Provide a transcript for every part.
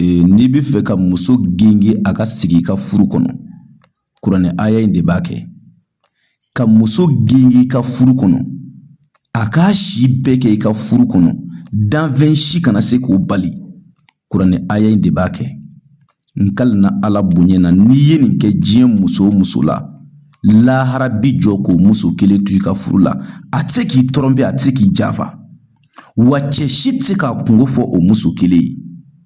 Ee n'i bɛ fɛ ka muso genge a ka sigi i ka furu kɔnɔ kuranɛ aya in de b'a kɛ ka muso genge i ka furu kɔnɔ a k'a si bɛɛ kɛ i ka furu kɔnɔ danfɛn si kana se k'o bali kuranɛ aya in de b'a kɛ n kalina ala bonya na n'i ye nin kɛ diɲɛ muso o muso la lahara bi jɔ k'o muso kelen to i ka furu la a tɛ se k'i tɔrɔnpe a tɛ se k'i janfa wa cɛ si tɛ se k'a kungo fɔ o muso kelen ye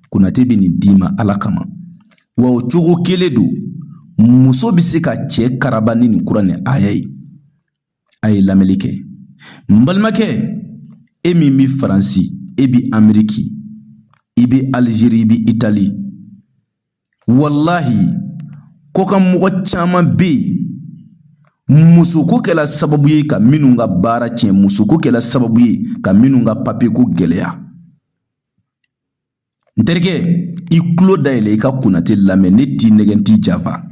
konate bɛ nin d'i ma ala kama wa o cogo kelen don muso bɛ se ka cɛ karaba ni nin kuranɛ aya ye a ye lamɛnli kɛ n balimakɛ e min bɛ faransi e bɛ ameriki i bɛ alizeri i bɛ itali walahi kɔkan mɔgɔ caman bɛ yen musoko kɛla sababu ye ka minnu ka baara tiɲɛ musoko kɛla sababu ye ka minnu ka papiyeko gɛlɛya n terikɛ i tulo dayɛlɛ i ka konate lamɛn ne t'i nɛgɛn n t'i janfa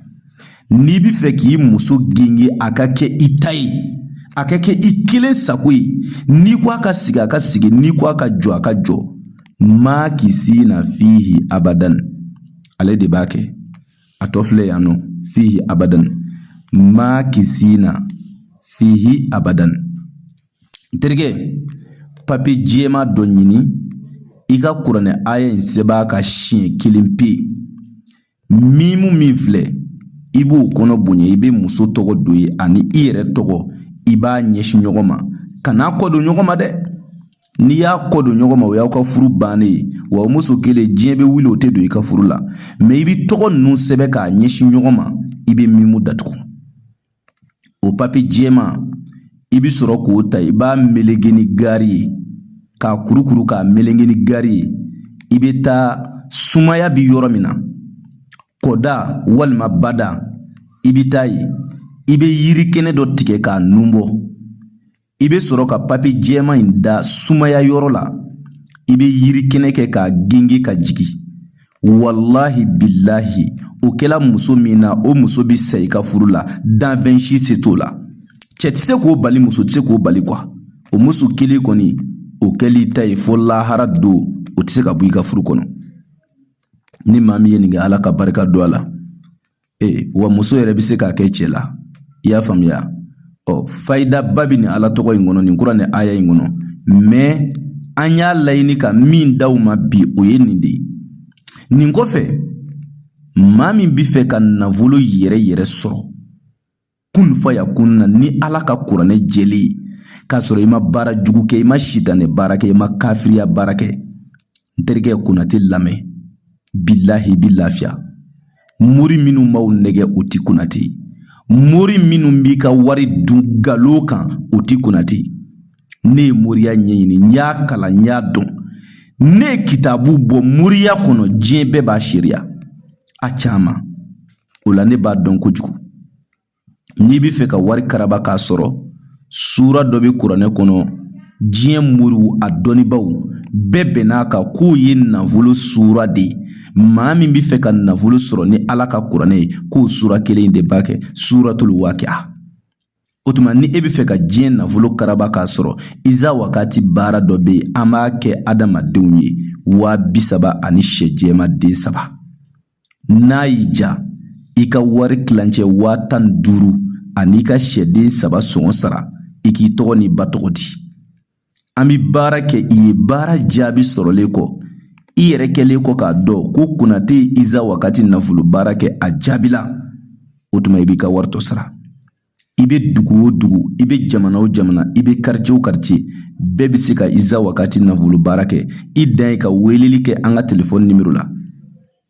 n'i bɛ fɛ k'i muso genge a ka kɛ i ta ye a ka kɛ i kelen sago ye n'i ko a ka sigi a ka sigi n'i ko a ka jɔ a ka jɔ makisina fihi abadan ale de b'a kɛ a tɔ filɛ yan nɔ fihi abadan makisina fihi abadan n terikɛ papiye jɛman dɔ ɲini i ka kuranɛ aya in sɛbɛn ka siɲɛ kelen pe Mimu min filɛ i b'o kɔnɔ bonya i bɛ muso tɔgɔ don yen ani i yɛrɛ tɔgɔ i b'a ɲɛsin ɲɔgɔn ma kan'a kɔ don ɲɔgɔn ma dɛ n'i y'a kɔ don ɲɔgɔn ma o y'aw ka furu bannen ye wa o muso kelen diɲɛ bɛ wuli o tɛ don i ka furu la mɛ i bɛ tɔgɔ ninnu sɛbɛn k'a ɲɛsin ɲɔgɔn ma i bɛ mimu datugu o papiye jɛman i bɛ sɔrɔ k'o ta i b'a meleke ni gari ye k'a kurukuru k'a meleke ni gari ye i bɛ taa sumaya bɛ yɔrɔ min na kɔda walima bada i bɛ taa yen i bɛ yiri kɛnɛ dɔ tigɛ k'a nun bɔ i bɛ sɔrɔ ka papiye jɛman in da sumaya yɔrɔ la i bɛ yiri kɛnɛ kɛ k'a gengi ka jigin walahi bilahi o kɛla muso min na o muso bɛ sa i ka furu la danfɛn si se t'o la cɛ tɛ se k'o bali muso tɛ se k'o bali kuwa o muso kelen kɔni o kɛl'i ta ye fo lahara don o tɛ se ka bɔ i ka furu kɔnɔ ni maa min ye nin kɛ ala ka barika don a la ee wa muso yɛrɛ bɛ se k'a kɛ cɛ la i y'a faamuya ɔ fayidaba bɛ nin ala tɔgɔ in kɔnɔ nin kuranɛ aya in kɔnɔ mɛ an y'a laɲini ka min d'aw ma bi o ye nin de ye nin kɔfɛ maa min bɛ fɛ ka nafolo yɛrɛ yɛrɛ sɔrɔ kun fa ya kun na ni ala ka kuranɛ jɛlen ye k'a sɔrɔ i ma baara jugu kɛ i ma sitanɛ baara kɛ i ma kafiriya baara kɛ n terikɛ konate lamɛn bilahi i bi lafiya mori minnu b'aw nɛgɛn o ti konate mori minnu b'i ka wari dun galo kan o ti konate ne ye moriya ɲɛɲini n y'a kalan n y'a dɔn ne ye kitabu bɔ moriya kɔnɔ diɲɛ bɛɛ b'a seereya a caman o la ne b'a dɔn kojugu n'i bɛ fɛ ka wari karaba k'a sɔrɔ suura dɔ bɛ kuranɛ kɔnɔ diɲɛ moriw a dɔnnibaaw bɛɛ bɛnn'a kan k'o ye nafolo suura de ye maa min bɛ fɛ ka nafolo sɔrɔ ni ala ka kuranɛ ye k'o suura kelen in de b'a kɛ suuratul wakia O tuma ni e bɛ fɛ ka diɲɛ nafolo karaba k'a sɔrɔ iza wagati baara dɔ bɛ yen an b'a kɛ adamadenw ye waa bi saba ani sɛ jɛma den saba n'a y'i ja i ka wari tilancɛ waa tan ni duuru an'i ka sɛden saba sɔngɔ sara i k'i tɔgɔ n'i ba tɔgɔ di An bɛ baara kɛ i ye baara jaabi sɔrɔlen kɔ i yɛrɛ kɛlen kɔ k'a dɔn ko konate ye iza wagati nafolo baara kɛ a jaabila o tuma i b'i ka wari tɔ sara i bɛ dugu o dugu i bɛ jamana o jamana i bɛ karice o karice bɛɛ bɛ se ka iza wagati nafolo baara kɛ i dan ye ka weleli kɛ an ka telefɔni nimero la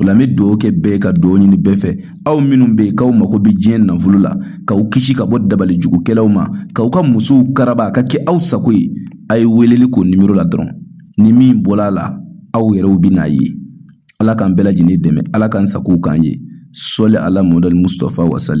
O la n bɛ dugawu kɛ bɛɛ ka dugawu ɲini bɛɛ fɛ aw minnu bɛ yen k'aw mago bɛ diɲɛ nafolo la k'aw kisi ka bɔ dabali jugukɛlaw ma k'aw ka musow karaba a ka kɛ aw sago ye a ye weleli k'o nimoro la dɔrɔn ni min bɔra a la aw yɛrɛw bɛn'a ye ala k'an bɛɛ lajɛlen dɛmɛ ala k'an sago k'an ye sɔli ala muhamadu musitafa wasalim